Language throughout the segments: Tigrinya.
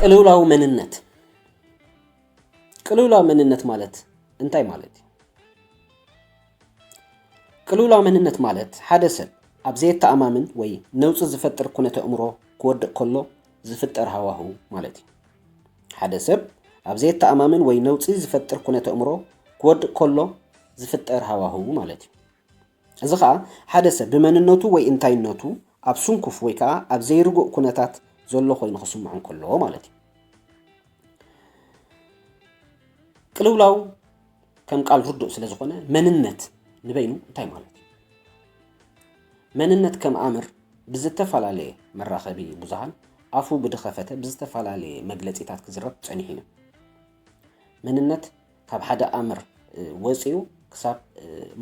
ቅልውላው መንነት ቅልውላው መንነት ማለት እንታይ ማለት እዩ? ቅልውላው መንነት ማለት ሓደ ሰብ ኣብ ዘየተኣማምን ወይ ነውፂ ዝፈጥር ኩነተ እምሮ ክወድቕ ከሎ ዝፍጠር ሃዋሁ ማለት እዩ። ሓደ ሰብ ኣብ ዘየተኣማምን ወይ ነውፂ ዝፈጥር ኩነተ እምሮ ክወድቕ ከሎ ዝፍጠር ሃዋሁ ማለት እዩ። እዚ ከኣ ሓደ ሰብ ብመንነቱ ወይ እንታይነቱ ኣብ ስንኩፍ ወይ ከኣ ኣብ ዘይርጉእ ኩነታት ዘሎ ኮይኑ ክስምዖ እንከሎ ማለት እዩ። ቅልውላው ከም ቃል ርዱእ ስለ ዝኾነ መንነት ንበይኑ እንታይ ማለት እዩ? መንነት ከም ኣምር ብዝተፈላለየ መራኸቢ ብዙሃን ኣፉ ብድኸፈተ ብዝተፈላለየ መግለፂታት ክዝረብ ፀኒሑ እዩ። መንነት ካብ ሓደ ኣምር ወፂኡ ክሳብ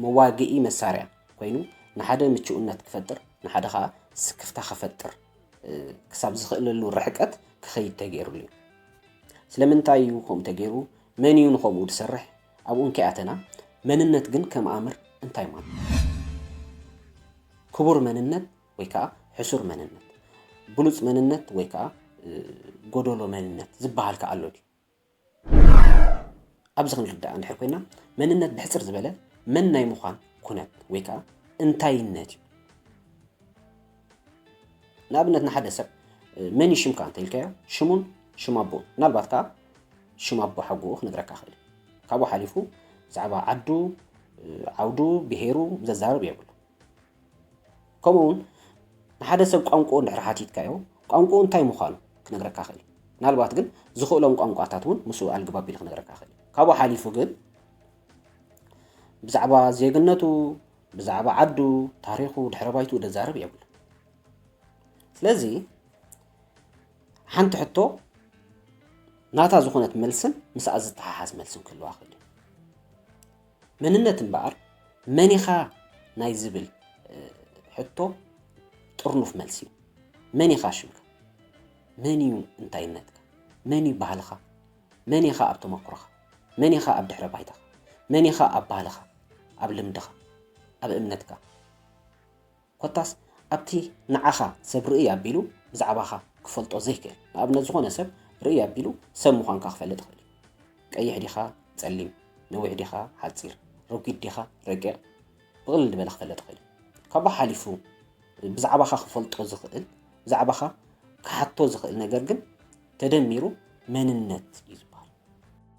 መዋግኢ መሳርያ ኮይኑ ንሓደ ምቹእነት ክፈጥር ንሓደ ከዓ ስክፍታ ክፈጥር ክሳብ ዝኽእለሉ ርሕቀት ክኸይድ ተገይሩሉ እዩ ስለምንታይ እዩ ከምኡ ተገይሩ መን እዩ ንከምኡ ዝሰርሕ ኣብኡ እንከይኣተና መንነት ግን ከም ኣምር እንታይ ማለት ክቡር መንነት ወይ ከዓ ሕሱር መንነት ብሉፅ መንነት ወይ ከዓ ጎደሎ መንነት ዝበሃል ከዓ ኣሎ ድዩ ኣብዚ ክንርዳእ እንድሕር ኮይና መንነት ብሕፅር ዝበለ መን ናይ ምዃን ኩነት ወይ ከዓ እንታይነት እዩ። ንኣብነት ንሓደ ሰብ መን እዩ ሽምካ እንተኢልካዮ ሽሙን ሽም ኣቦ ምናልባት ከዓ ሽም ኣቦ ሓጎኡ ክነግረካ ክእል ካብኡ ሓሊፉ ብዛዕባ ዓዱ ዓውዱ ብሄሩ ዘዛርብ የብሉ ከምኡ ውን ንሓደ ሰብ ቋንቁኡ እንድሕር ሓቲትካዮ ቋንቁኡ እንታይ ምዃኑ ክነግረካ ይኽእል እዩ። ምናልባት ግን ዝኽእሎም ቋንቋታት እውን ምስኡ ኣልግባብ ቢሉ ክነግረካ ይኽእል እዩ። ካብኡ ሓሊፉ ግን ብዛዕባ ዜግነቱ ብዛዕባ ዓዱ ታሪኹ ድሕረ ባይትኡ ደዛርብ የብሉ ስለዚ ሓንቲ ሕቶ ናታ ዝኾነት መልስን ምስኣ ዝተሓሓዝ መልስን ክህልዋ ክእል መንነት እምበኣር መን ኢኻ ናይ ዝብል ሕቶ ጥርኑፍ መልሲ እዩ። መን ኢኻ ሽምካ? መን እዩ እንታይነትካ? መን እዩ ባህልኻ? መን ኢኻ ኣብ ተመኩሮኻ? መን ኢኻ ኣብ ድሕረ ባይታኻ? መን ኢኻ ኣብ ባህልኻ? ኣብ ልምድኻ? ኣብ እምነትካ? ኮታስ ኣብቲ ንዓኻ ሰብ ርእይ ኣቢሉ ብዛዕባኻ ክፈልጦ ዘይክእል ንኣብነት ዝኾነ ሰብ ርእይ ኣቢሉ ሰብ ምዃንካ ክፈልጥ ይኽእል እዩ። ቀይሕ ዲኻ ጸሊም፣ ነዊሕ ዲኻ ሓጺር፣ ረጒድ ዲኻ ረቂቕ ብቕልል ዝበለ ክፈልጥ ይኽእል እዩ። ካብኡ ሓሊፉ ብዛዕባኻ ክፈልጦ ዝኽእል ብዛዕባኻ ክሓቶ ዝኽእል ነገር ግን ተደሚሩ መንነት እዩ።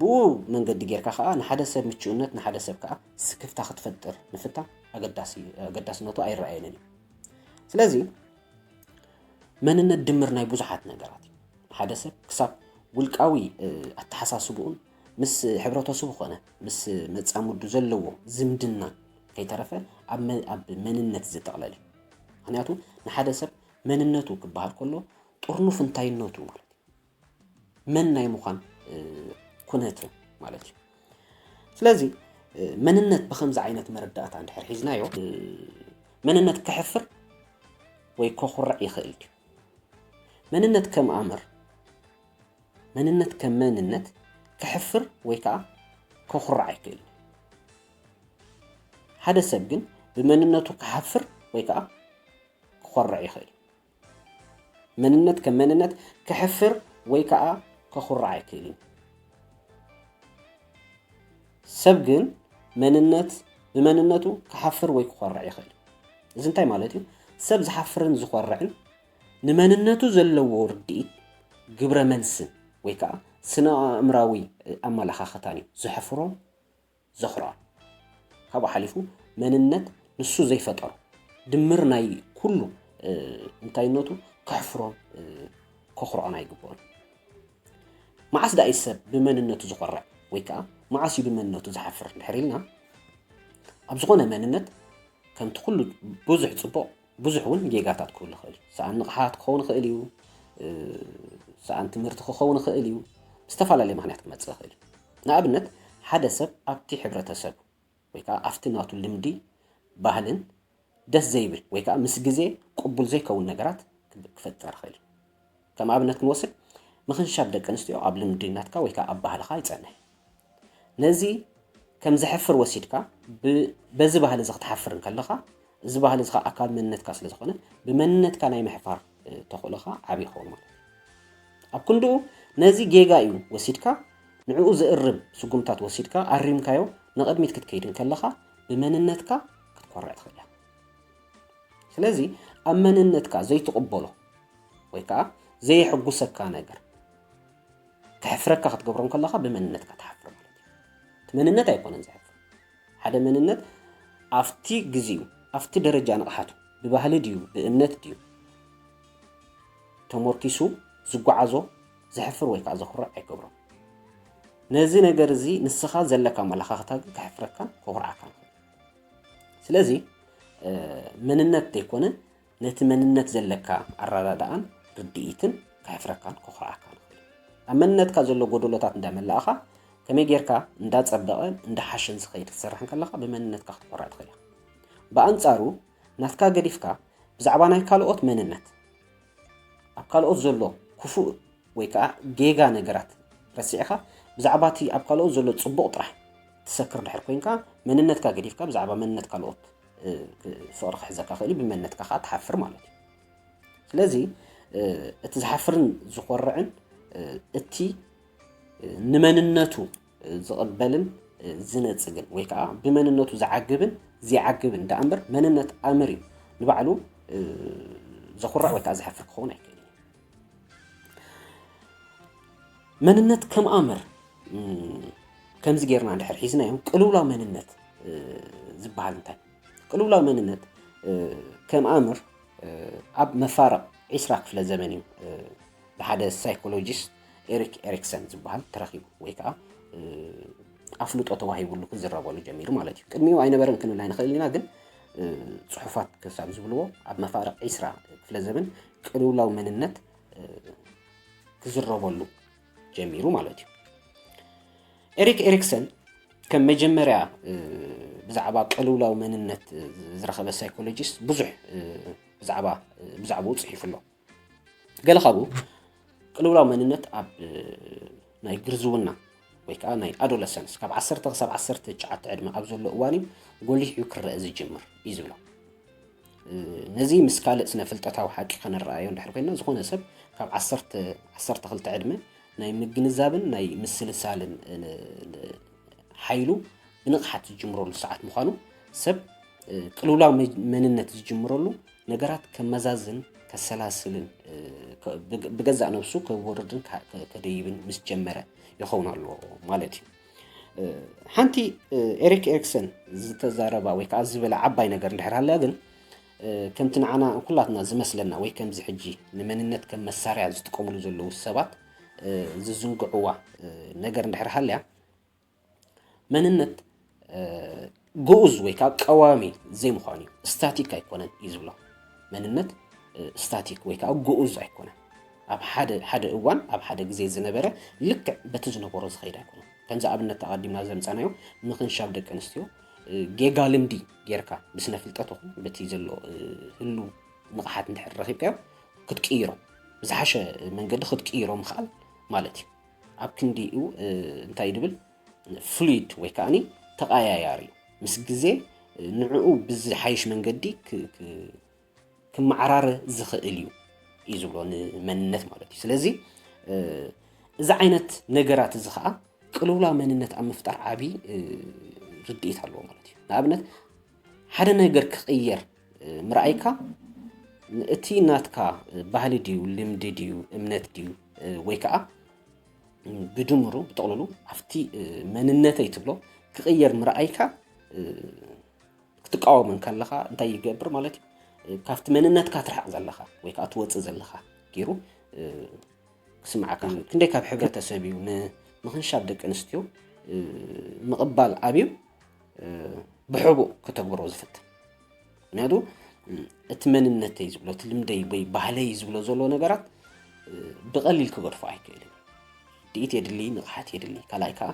ብኡ መንገዲ ጌርካ ከኣ ንሓደ ሰብ ምቹእነት ንሓደ ሰብ ከኣ ስክፍታ ክትፈጥር ምፍታን ኣገዳስነቱ ኣይረኣየንን እዩ። ስለዚ መንነት ድምር ናይ ብዙሓት ነገራት እዩ። ሓደ ሰብ ክሳብ ውልቃዊ ኣተሓሳስብኡን ምስ ሕብረተሰቡ ኮነ ምስ መጻምዱ ዘለዎ ዝምድና ከይተረፈ ኣብ መንነት ዝጥቕለል እዩ ምክንያቱ ንሓደ ሰብ መንነቱ ክበሃል ከሎ ጥርኑፍ እንታይነቱ ማለት እዩ መን ናይ ምዃን ኩነትን ማለት እዩ ስለዚ መንነት ብከምዚ ዓይነት መረዳእታ እንድሕር ሒዝናዮ መንነት ክሕፍር ወይ ከኹርዕ ይኽእል እዩ መንነት ከም ኣምር መንነት ከም መንነት ክሕፍር ወይ ከዓ ከኹርዕ ኣይክእል ሓደ ሰብ ግን ብመንነቱ ክሓፍር ወይ ከዓ ክኾርዕ ይኽእል መንነት ከም መንነት ከሕፍር ወይ ከኣ ከኹርዕ ኣይክእልን እዩ። ሰብ ግን መንነት ብመንነቱ ክሓፍር ወይ ክኾርዕ ይኽእል። እዚ እንታይ ማለት እዩ? ሰብ ዝሓፍርን ዝኾርዕን ንመንነቱ ዘለዎ ርድኢት ግብረ መልስን ወይ ከዓ ስነ ኣእምራዊ ኣመለኻኽታን እዩ ዘሕፍሮን ዘኽርዖን። ካብኡ ሓሊፉ መንነት ንሱ ዘይፈጠሮ ድምር ናይ ኩሉ እንታይነቱ ከሕፍሮን ከኹርዖን ኣይግብኦን። መዓስ ደኣ እዩ ሰብ ብመንነቱ ዝኾርዕ ወይ ከዓ መዓስ እዩ ብመንነቱ ዝሓፍር እንድሕር ኢልና ኣብ ዝኾነ መንነት ከምቲ ኩሉ ብዙሕ ፅቡቕ ብዙሕ እውን ጌጋታት ክህሉ ይኽእል እዩ ሰኣን ንቕሓት ክኸውን ይኽእል እዩ ሰኣን ትምህርቲ ክኸውን ይኽእል እዩ ዝተፈላለየ ምክንያት ክመፅእ ይኽእል እዩ ንኣብነት ሓደ ሰብ ኣብቲ ሕብረተሰቡ ወይ ከኣ ኣብቲ ናቱ ልምዲ ባህልን ደስ ዘይብል ወይ ከኣ ምስ ግዜ ቅቡል ዘይከውን ነገራት ክፈጥር ይኽእል እዩ። ከም ኣብነት ክንወስድ ምኽንሻብ ደቂ ኣንስትዮ ኣብ ልምዲ ናትካ ወይ ከኣ ኣብ ባህልኻ ኣይጸንሕ። ነዚ ከም ዘሕፍር ወሲድካ በዚ ባህሊ እዚ ክትሓፍር እንከለኻ እዚ ባህሊ እዚ ኸኣ ኣካል መንነትካ ስለ ዝኾነ ብመንነትካ ናይ ምሕፋር ተኽእሎኻ ዓቢ ይኸውን ማለት እዩ። ኣብ ክንድኡ ነዚ ጌጋ እዩ ወሲድካ ንዕኡ ዘእርም ስጉምታት ወሲድካ ኣሪምካዮ ንቕድሚት ክትከይድ እንከለኻ ብመንነትካ ክትኮርዕ ትኽእል እያ። ስለዚ ኣብ መንነትካ ዘይትቕበሎ ወይ ከዓ ዘየሕጉሰካ ነገር ከሕፍረካ ክትገብሮ እንከለኻ ብመንነትካ ትሓፍር ማለት እዩ። እቲ መንነት ኣይኮነን ዘሕፍር ሓደ መንነት ኣብቲ ግዚኡ ኣብቲ ደረጃ ንቕሓቱ ብባህሊ ድዩ ብእምነት ድዩ ተሞርኪሱ ዝጓዓዞ ዘሕፍር ወይ ከኣ ዘኹርዕ ኣይገብሮን። ነዚ ነገር እዚ ንስኻ ዘለካ ኣመለኻኽታ ግን ከሕፍረካን ከኹርዓካን ይኽእል። ስለዚ መንነት ዘይኮነ ነቲ መንነት ዘለካ ኣረዳድኣን ርድኢትን ከሕፍረካን ከኹርዓካን ይኽእል'ዩ። ኣብ መንነትካ ዘሎ ጎደሎታት እንዳመላእኻ፣ ከመይ ጌርካ እንዳጸበቐን እንዳሓሸን ዝኸይድ ክትሰርሕ እንከለኻ ብመንነትካ ክትኮርዕ ትኽእል ኢኻ። ብኣንጻሩ ናትካ ገዲፍካ ብዛዕባ ናይ ካልኦት መንነት፣ ኣብ ካልኦት ዘሎ ክፉእ ወይ ከኣ ጌጋ ነገራት ረሲዕካ ብዛዕባ እቲ ኣብ ካልኦት ዘሎ ጽቡቕ ጥራሕ ትሰክር ድሕር ኮንካ፣ መንነትካ ገዲፍካ ብዛዕባ መንነት ካልኦት ፍቕሪ ክሕዘካ ክእል እዩ ብመነትካ ከዓ ትሓፍር ማለት እዩ ስለዚ እቲ ዝሓፍርን ዝኾርዕን እቲ ንመንነቱ ዝቕበልን ዝነፅግን ወይ ከዓ ብመንነቱ ዝዓግብን ዘይዓግብን ዳኣ እምበር መንነት ኣምር እዩ ንባዕሉ ዘኹርዕ ወይ ከዓ ዝሓፍር ክኸውን ኣይክእልን መንነት ከም ኣምር ከምዚ ጌርና ድሕር ሒዝናዮ ቅልውላው መንነት ዝበሃል እንታይ ቅልውላው መንነት ከም ኣምር ኣብ መፋርቕ ዒስራ ክፍለ ዘመን እዩ ብሓደ ሳይኮሎጂስት ኤሪክ ኤሪክሰን ዝበሃል ተረኪቡ ወይ ከዓ ኣፍልጦ ተዋሂብሉ ክዝረበሉ ጀሚሩ ማለት እዩ ቅድሚኡ ኣይነበረን ክንብል ኣይንኽእል ኢና ግን ፅሑፋት ክሳብ ዝብልዎ ኣብ መፋርቕ ዒስራ ክፍለ ዘመን ቅልውላው መንነት ክዝረበሉ ጀሚሩ ማለት እዩ ኤሪክ ኤሪክሰን ከም መጀመርያ ብዛዕባ ቅልውላው መንነት ዝረኸበ ሳይኮሎጂስት ብዙሕ ብዛዕባ ብዛዕባኡ ፅሒፉ ኣሎ ገለ ካብኡ ቅልውላው መንነት ኣብ ናይ ግርዝውና ወይ ከዓ ናይ ኣዶለሰንስ ካብ ዓሰርተ ክሳብ ዓሰርተ ትሽዓተ ዕድመ ኣብ ዘሎ እዋን እዩ ጎሊሕ እዩ ክረአ ዝጅምር እዩ ዝብሎ ነዚ ምስ ካልእ ስነ ፍልጠታዊ ሓቂ ከነረኣዮ እንድሕር ኮይና ዝኾነ ሰብ ካብ ዓሰርተ ክልተ ዕድመ ናይ ምግንዛብን ናይ ምስልሳልን ሓይሉ ብንቕሓት ዝጅምረሉ ሰዓት ምዃኑ ሰብ ቅልውላው መንነት ዝጅምረሉ ነገራት ከመዛዝን ከሰላስልን ብገዛእ ነብሱ ከወርድን ከደይብን ምስ ጀመረ ይኸውን ኣሎ ማለት እዩ ሓንቲ ኤሪክ ኤሪክሰን ዝተዛረባ ወይ ከዓ ዝበለ ዓባይ ነገር እንድሕር ሃልያ ግን ከምቲ ንዓና ኩላትና ዝመስለና ወይ ከምዚ ሕጂ ንመንነት ከም መሳርያ ዝጥቀምሉ ዘለዉ ሰባት ዝዝንግዕዋ ነገር እንድሕር ሃልያ መንነት ግኡዝ ወይ ከዓ ቀዋሚ ዘይምዃኑ እዩ ስታቲክ ኣይኮነን እዩ ዝብሎ መንነት ስታቲክ ወይ ከዓ ግኡዝ ኣይኮነን ኣብ ሓደ ሓደ እዋን ኣብ ሓደ ግዜ ዝነበረ ልክዕ በቲ ዝነበሮ ዝኸይድ ኣይኮነ ከምዚ ኣብነት ተቐዲምና ዘምፀናዮ ምክንሻብ ደቂ ኣንስትዮ ጌጋ ልምዲ ጌርካ ብስነ ፍልጠት ኹን በቲ ዘሎ ህሉ ንቕሓት እንድሕር ረኺብካዮ ክትቅይሮም ብዝሓሸ መንገዲ ክትቅይሮ ምኽኣል ማለት እዩ ኣብ ክንዲኡ እንታይ ድብል ፍሉይድ ወይ ከዓኒ ተቐያያሪ እዩ ምስ ግዜ ንዕኡ ብዝሓይሽ መንገዲ ክመዓራረ ዝኽእል እዩ እዩ ዝብሎ ንመንነት ማለት እዩ ስለዚ እዚ ዓይነት ነገራት እዚ ከዓ ቅልውላ መንነት ኣብ ምፍጣር ዓብዪ ርድኢት ኣለዎ ማለት እዩ ንኣብነት ሓደ ነገር ክቕየር ምርኣይካ እቲ ናትካ ባህሊ ድዩ ልምዲ ድዩ እምነት ድዩ ወይ ከዓ ብድምሩ ብጥቕልሉ ኣብቲ መንነተይ ትብሎ ክቕየር ምርኣይካ ክትቃወም እንከለኻ እንታይ ይገብር ማለት እዩ ካብቲ መንነትካ ትርሕቕ ዘለኻ ወይ ከዓ ትወፅእ ዘለኻ ገይሩ ክስምዓካ ክንደይ ካብ ሕብረተሰብ እዩ ንምኽንሻብ ደቂ ኣንስትዮ ምቕባል ኣብዩ ብሕቡእ ከተግብሮ ዝፍትን ምክንያቱ እቲ መንነተይ ዝብሎ እቲ ልምደይ ወይ ባህለይ ዝብሎ ዘሎ ነገራት ብቐሊል ክገድፎ ኣይክእልን ድኢት የድሊ ንቕሓት የድሊ ካልኣይ ከዓ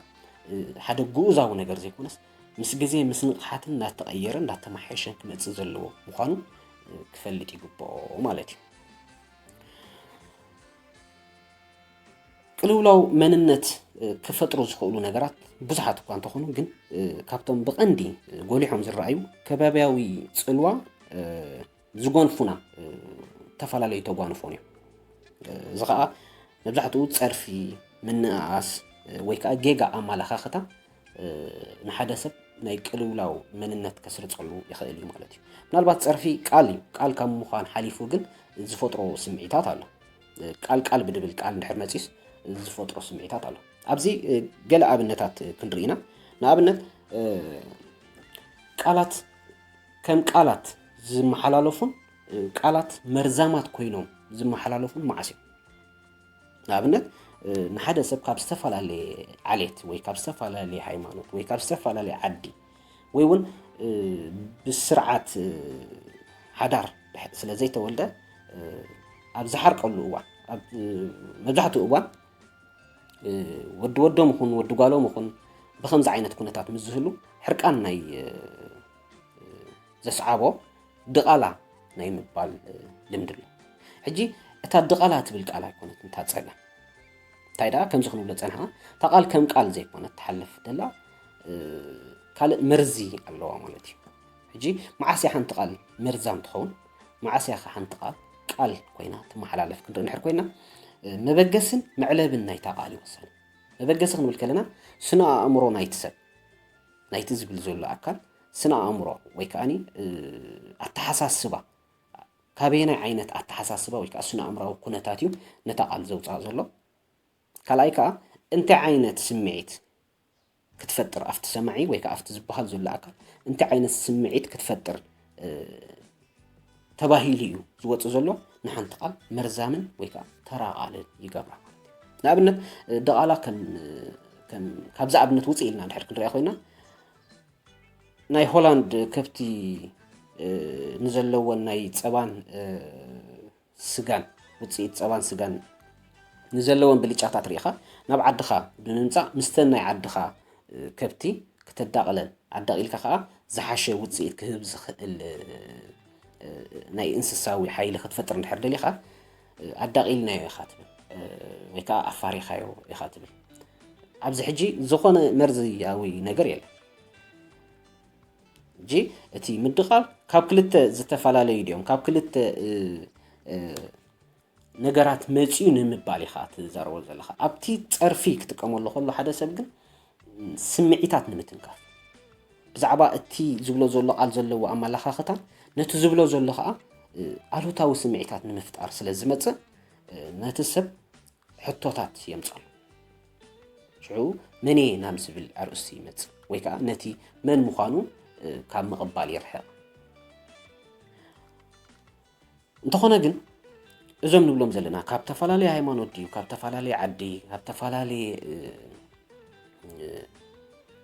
ሓደ ግኡዛዊ ነገር ዘይኮነስ ምስ ግዜ ምስ ንቕሓትን እናተቐየረ እናተመሓየሸን ክመፅእ ዘለዎ ምዃኑ ክፈልጥ ይግብኦ ማለት እዩ ቅልውላው መንነት ክፈጥሩ ዝኽእሉ ነገራት ብዙሓት እኳ እንተኾኑ ግን ካብቶም ብቐንዲ ጎሊሖም ዝረኣዩ ከባቢያዊ ፅልዋ ዝጎንፉና ዝተፈላለዩ ተጓንፎን እዮም እዚ ከዓ መብዛሕትኡ ፀርፊ ምንእኣስ ወይ ከዓ ጌጋ ኣመላኻኽታ ንሓደ ሰብ ናይ ቅልውላው መንነት ከስርፀሉ ይኽእል እዩ ማለት እዩ ምናልባት ፀርፊ ቃል እዩ ቃል ካብ ምዃን ሓሊፉ ግን ዝፈጥሮ ስምዒታት ኣሎ ቃል ቃል ብድብል ቃል እንድሕር መጺስ ዝፈጥሮ ስምዒታት ኣሎ ኣብዚ ገለ ኣብነታት ክንርኢ ኢና ንኣብነት ቃላት ከም ቃላት ዝመሓላለፉን ቃላት መርዛማት ኮይኖም ዝመሓላለፉን መዓስ እዮም ንኣብነት ንሓደ ሰብ ካብ ዝተፈላለየ ዓሌት ወይ ካብ ዝተፈላለየ ሃይማኖት ወይ ካብ ዝተፈላለየ ዓዲ ወይ እውን ብስርዓት ሓዳር ስለ ዘይተወልደ ኣብ ዝሓርቀሉ እዋን ኣብ መብዛሕትኡ እዋን ወዲ ወዶም ይኹን ወዲ ጓሎም ይኹን ብከምዚ ዓይነት ኩነታት ምስ ዝህሉ ሕርቃን ናይ ዘስዓቦ ድቓላ ናይ ምባል ልምዲ ኣሎ ሕጂ እታ ድቓላ ትብል ቃል ኣይኮነት እንታ ፀላ እንታይ ደኣ ከምዚ ክንብሎ ፀንሕና እታ ቃል ከም ቃል ዘይኮነት ትሓልፍ ደላ ካልእ መርዚ ኣለዋ ማለት እዩ ሕጂ መዓስ እያ ሓንቲ ቃል መርዛም ትኸውን መዓስ እያ ሓንቲ ቃል ቃል ኮይና ትመሓላለፍ ክንርኢ ንድሕር ኮይና መበገስን መዕለብን ናይታ ቃል ይወሰን መበገሲ ክንብል ከለና ስነ ኣእምሮ ናይቲ ሰብ ናይቲ ዝብል ዘሎ ኣካል ስነ ኣእምሮ ወይ ከዓኒ ኣተሓሳስባ ካበየናይ ዓይነት ኣተሓሳስባ ወይ ከዓ ስነ ኣእምራዊ ኩነታት እዩ ነታ ቃል ዘውፅኣ ዘሎ ካልኣይ ከዓ እንታይ ዓይነት ስምዒት ክትፈጥር ኣብቲ ሰማዒ ወይ ከዓ ኣብቲ ዝበሃል ዘሎ ኣካል እንታይ ዓይነት ስምዒት ክትፈጥር ተባሂሉ እዩ ዝወፅ ዘሎ ንሓንቲ ቃል መርዛምን ወይ ከዓ ተራቓልን ይገብራ ንኣብነት ደቓላ ካብዚ ኣብነት ውፅእ ኢልና ድሕር ክንሪያ ኮይና ናይ ሆላንድ ከብቲ ንዘለዎን ናይ ፀባን ስጋን ውፅኢት ፀባን ስጋን ንዘለወን ብልጫታት ሪኢኻ ናብ ዓድኻ ብምምፃእ ምስተን ናይ ዓድኻ ከብቲ ክተዳቕለን ኣዳቒልካ ከዓ ዝሓሸ ውፅኢት ክህብ ዝኽእል ናይ እንስሳዊ ሓይሊ ክትፈጥር እንድሕር ደሊኻ ኣዳቒልናዮ ኢኻ ትብል ወይ ከዓ ኣፋሪኻዮ ኢኻ ትብል ኣብዚ ሕጂ ዝኾነ መርዝያዊ ነገር የለን ሕጂ እቲ ምድቓል ካብ ክልተ ዝተፈላለዩ ድዮም ካብ ክልተ ነገራት መፅኡ ንምባል ኢኻ ትዛረቦ ዘለኻ ኣብቲ ፀርፊ ክጥቀመሉ ከሎ ሓደ ሰብ ግን ስምዒታት ንምትንካፍ ብዛዕባ እቲ ዝብሎ ዘሎ ቃል ዘለዎ ኣመላኻኽታን ነቲ ዝብሎ ዘሎ ከዓ ኣሉታዊ ስምዒታት ንምፍጣር ስለ ዝመፅእ ነቲ ሰብ ሕቶታት የምጽኣሉ። ሽዑ መንየ ናብ ዝብል ኣርእስቲ ይመጽእ ወይ ከዓ ነቲ መን ምዃኑ ካብ ምቕባል ይርሕቕ። እንተኾነ ግን እዞም ንብሎም ዘለና ካብ ተፈላለየ ሃይማኖት ድዩ ካብ ተፈላለየ ዓዲ ካብ ተፈላለየ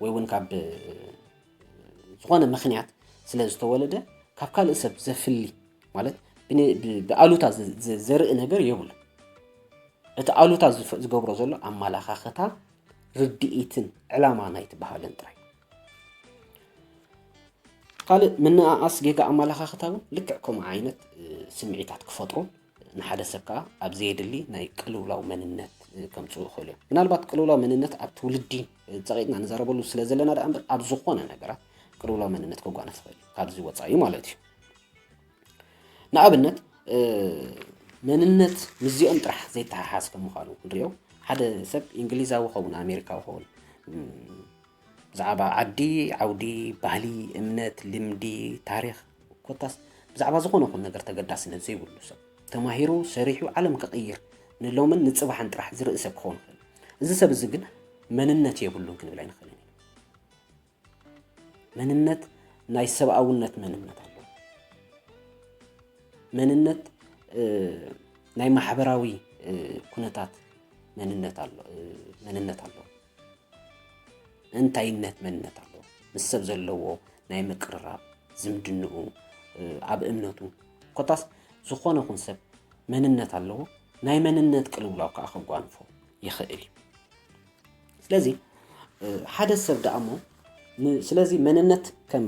ወይ እውን ካብ ዝኾነ ምክንያት ስለ ዝተወለደ ካብ ካልእ ሰብ ዘፍሊ ማለት ብኣሉታ ዘርኢ ነገር የብሉ እቲ ኣሉታ ዝገብሮ ዘሎ ኣመላኻኽታ ርድኢትን ዕላማ ናይቲ ባህልን ጥራይ ካልእ ምንኣኣስ ጌጋ ኣመላኻኽታ እውን ልክዕ ከምኡ ዓይነት ስምዒታት ክፈጥሩ ንሓደ ሰብ ከዓ ኣብ ዘየድሊ ናይ ቅልውላው መንነት ከምፅኡ ይኽእሉ እዮም ምናልባት ቅልውላው መንነት ኣብ ትውልዲ ፀቂጥና ንዘረበሉ ስለ ዘለና ደኣ እምበር ኣብ ዝኾነ ነገራት ቅልውላው መንነት ከጓነፍ ይኽእል ካብዚ ወፃኢ ማለት እዩ ንኣብነት መንነት ምስዚኦም ጥራሕ ዘይተሓሓዝ ከም ምዃኑ ክንሪኦ ሓደ ሰብ እንግሊዛዊ ኸውን ኣሜሪካዊ ኸውን ብዛዕባ ዓዲ ዓውዲ ባህሊ እምነት ልምዲ ታሪክ ኮታስ ብዛዕባ ዝኾነ ኹን ነገር ተገዳስነት ዘይብሉ ሰብ ተማሂሩ ሰሪሑ ዓለም ክቕይር ንሎምን ንፅባሕን ጥራሕ ዝርኢ ሰብ ክኸውን ይኽእል እዚ ሰብ እዚ ግን መንነት የብሉን ክንብል ኣይንኽእልን መንነት ናይ ሰብኣውነት መንነት ኣሎ መንነት ናይ ማሕበራዊ ኩነታት መንነት ኣሎ መንነት ኣሎ እንታይነት መንነት ኣሎ ምስ ሰብ ዘለዎ ናይ ምቅርራብ ዝምድንኡ ኣብ እምነቱ ኮታስ ዝኾነ ኹን ሰብ መንነት ኣለዎ ናይ መንነት ቅልውላው ከዓ ከጓንፎ ይኽእል እዩ ስለዚ ሓደ ሰብ ደኣ እሞ ስለዚ መንነት ከም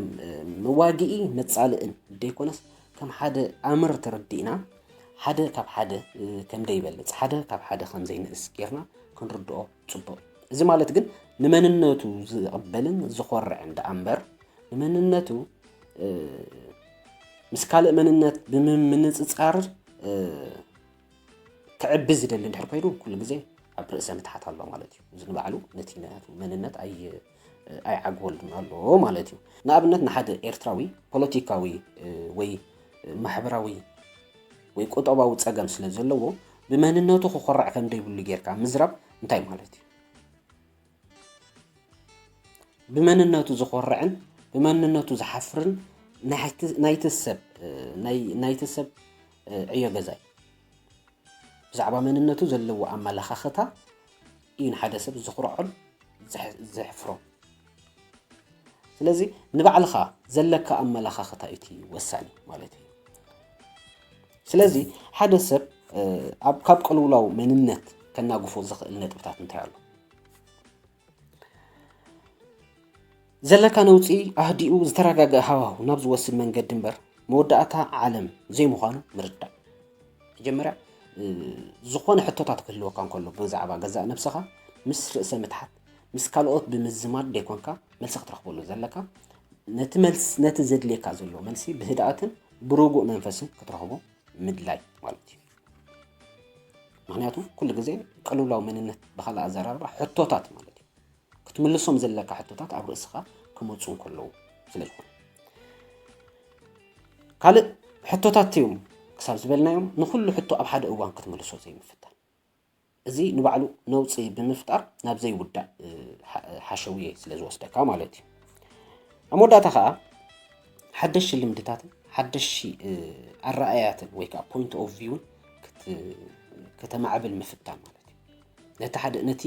መዋግኢ መጻልእን ደይኮነስ ከም ሓደ ኣምር ተረዲእና ሓደ ካብ ሓደ ከም ደይበልፅ ሓደ ካብ ሓደ ከም ዘይንእስ ጌርና ክንርድኦ ፅቡቕ እዚ ማለት ግን ንመንነቱ ዝቕበልን ዝኾርዕን ደኣ እምበር ንመንነቱ ምስ ካልእ መንነት ብምንፅፃር ክዕቢ ዝደሊ እንድሕር ኮይኑ ኩሉ ግዜ ኣብ ርእሰ ምትሓት ኣሎ ማለት እዩ እዚ ንባዕሉ ነቲ ናቱ መንነት ኣይ ኣይዓግበሉን ኣሎ ማለት እዩ ንኣብነት ንሓደ ኤርትራዊ ፖለቲካዊ ወይ ማሕበራዊ ወይ ቁጠባዊ ፀገም ስለ ዘለዎ ብመንነቱ ክኮራዕ ከም ዘይብሉ ጌርካ ምዝራብ እንታይ ማለት እዩ ብመንነቱ ዝኾርዕን ብመንነቱ ዝሓፍርን ናይቲ ሰብ ናይቲ ሰብ ዕዮ ገዛይ ብዛዕባ መንነቱ ዘለዎ ኣመለኻኽታ እዩ ንሓደ ሰብ ዝኹርዖን ዘሕፍሮ ስለዚ ንባዕልኻ ዘለካ ኣመለኻኽታ እቲ ወሳኒ ማለት እዩ ስለዚ ሓደ ሰብ ኣብ ካብ ቅልውላው መንነት ከናግፎ ዝኽእል ነጥብታት እንታይ ኣሎ? ዘለካ ነውፂ ኣህዲኡ ዝተረጋገ ሃዋሁ ናብ ዝወስድ መንገዲ እምበር መወዳእታ ዓለም ዘይምዃኑ ምርዳእ። መጀመርያ ዝኾነ ሕቶታት ክህልወካ እንከሎ ብዛዕባ ገዛእ ነብስኻ ምስ ርእሰ ምትሓት ምስ ካልኦት ብምዝማድ ደይኮንካ መልሲ ክትረኽበሉ ዘለካ ነቲ መልሲ ነቲ ዘድልየካ ዘሎ መልሲ ብህድኣትን ብርጉእ መንፈስን ክትረኽቦ ምድላይ ማለት እዩ ምክንያቱ ኩሉ ግዜ ቅልውላው መንነት ብካልእ ኣዘራርባ ሕቶታት ማለት እዩ ክትምልሶም ዘለካ ሕቶታት ኣብ ርእስኻ ክመፁ ከለዉ ስለ ዝኾነ ካልእ ሕቶታት እዮም ክሳብ ዝበልናዮም ንኩሉ ሕቶ ኣብ ሓደ እዋን ክትምልሶ ዘይምፍታን እዚ ንባዕሉ ነውፂ ብምፍጣር ናብ ዘይውዳእ ሓሸውየ ስለ ዝወስደካ ማለት እዩ ኣብ መወዳእታ ከዓ ሓደሽቲ ልምድታትን ሓደሽቲ ኣረኣያትን ወይ ከዓ ፖይንት ኦፍ ቪውን ከተማዕብል ምፍታን ማለት እዩ ነቲ ሓደ ነቲ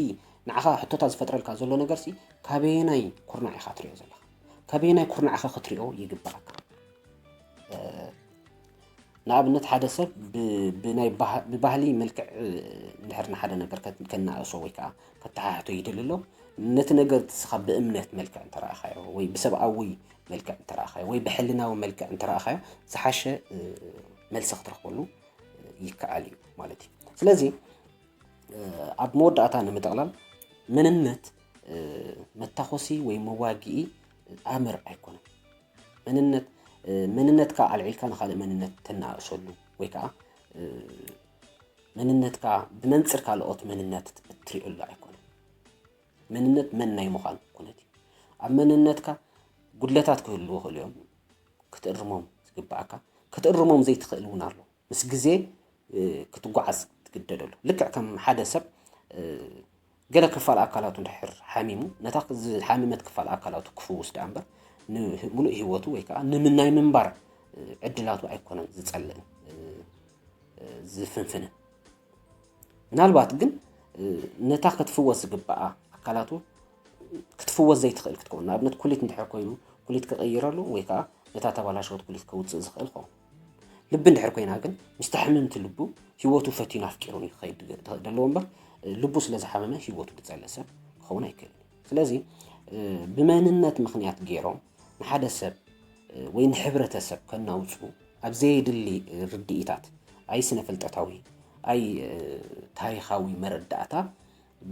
ንዓኻ ሕቶታት ዝፈጥረልካ ዘሎ ነገርሲ ካበየናይ ኩርናዕ ኢኻ ትሪኦ ዘለኻ ካበየናይ ኩርናዕኻ ክትሪኦ ይግባኣካ ንኣብነት ሓደ ሰብ ብባህሊ መልክዕ እንድሕር ንሓደ ነገር ከናእሶ ወይ ከዓ ከተሓሕቶ ይደሊ ኣሎ ነቲ ነገር ንስኻ ብእምነት መልክዕ እንተረእኻዮ ወይ ብሰብኣዊ መልክዕ እንተረእኻዮ ወይ ብሕልናዊ መልክዕ እንተረእኻዮ ዝሓሸ መልሲ ክትረኽበሉ ይከኣል እዩ ማለት እዩ ስለዚ ኣብ መወዳእታ ንምጥቕላል መንነት መታኾሲ ወይ መዋግኢ ኣምር ኣይኮነን መንነት መንነትካ ኣልዒልካ ንካልእ መንነት ተናእሰሉ ወይ ከዓ መንነትካ ብመንፅር ካልኦት መንነት እትሪእሉ ኣይኮነ መንነት መን ናይ ምዃን ኩነት እዩ ኣብ መንነትካ ጉድለታት ክህልዎ ክእሉ እዮም ክትእርሞም ዝግባእካ ክትእርሞም ዘይትኽእል እውን ኣሎ ምስ ግዜ ክትጓዓዝ ትግደደሉ። ልክዕ ከም ሓደ ሰብ ገለ ክፋል ኣካላቱ ድሕር ሓሚሙ ነታ ዝሓመመት ክፋል ኣካላቱ ክፍውስ ደኣ እምበር ንምሉእ ህይወቱ ወይ ከዓ ንምናይ ምንባር ዕድላቱ ኣይኮነን ዝጸልእን ዝፍንፍንን ምናልባት ግን ነታ ክትፍወስ ዝግባኣ ኣካላቱ ክትፍወስ ዘይትኽእል ክትከውን ንኣብነት ኩሊት እንድሕር ኮይኑ ኩሊት ክቕይረሉ ወይ ከዓ ነታ ተባላሸወት ኩሊት ከውፅእ ዝኽእል ኸውን ልቢ እንድሕር ኮይና ግን ምስታ ሕምምቲ ልቡ ህይወቱ ፈቲኑ ኣፍቂሩን እዩ ክኸይድ ዘለዎ እምበር ልቡ ስለ ዝሓመመ ህይወቱ ክጸልእ ሰብ ክኸውን ኣይክእልን እዩ ስለዚ ብመንነት ምክንያት ገይሮም ንሓደ ሰብ ወይ ንሕብረተሰብ ከናውፁ ኣብ ዘየድሊ ርድኢታት ኣይ ስነ ፍልጠታዊ ኣይ ታሪኻዊ መረዳእታ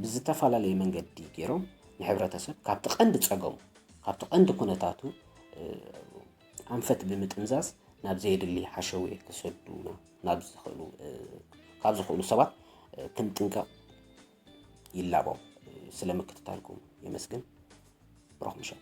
ብዝተፈላለየ መንገዲ ገይሮም ንሕብረተሰብ ካብቲ ቀንዲ ፀገሙ ካብቲ ቀንዲ ኩነታቱ ኣንፈት ብምጥምዛዝ ናብ ዘየድሊ ሓሸውየ ክሰዱና ካብ ዝኽእሉ ሰባት ክንጥንቀቕ ይላቦ። ስለ ምክትታልኩም የመስግን። ብሩኽ ምሸት።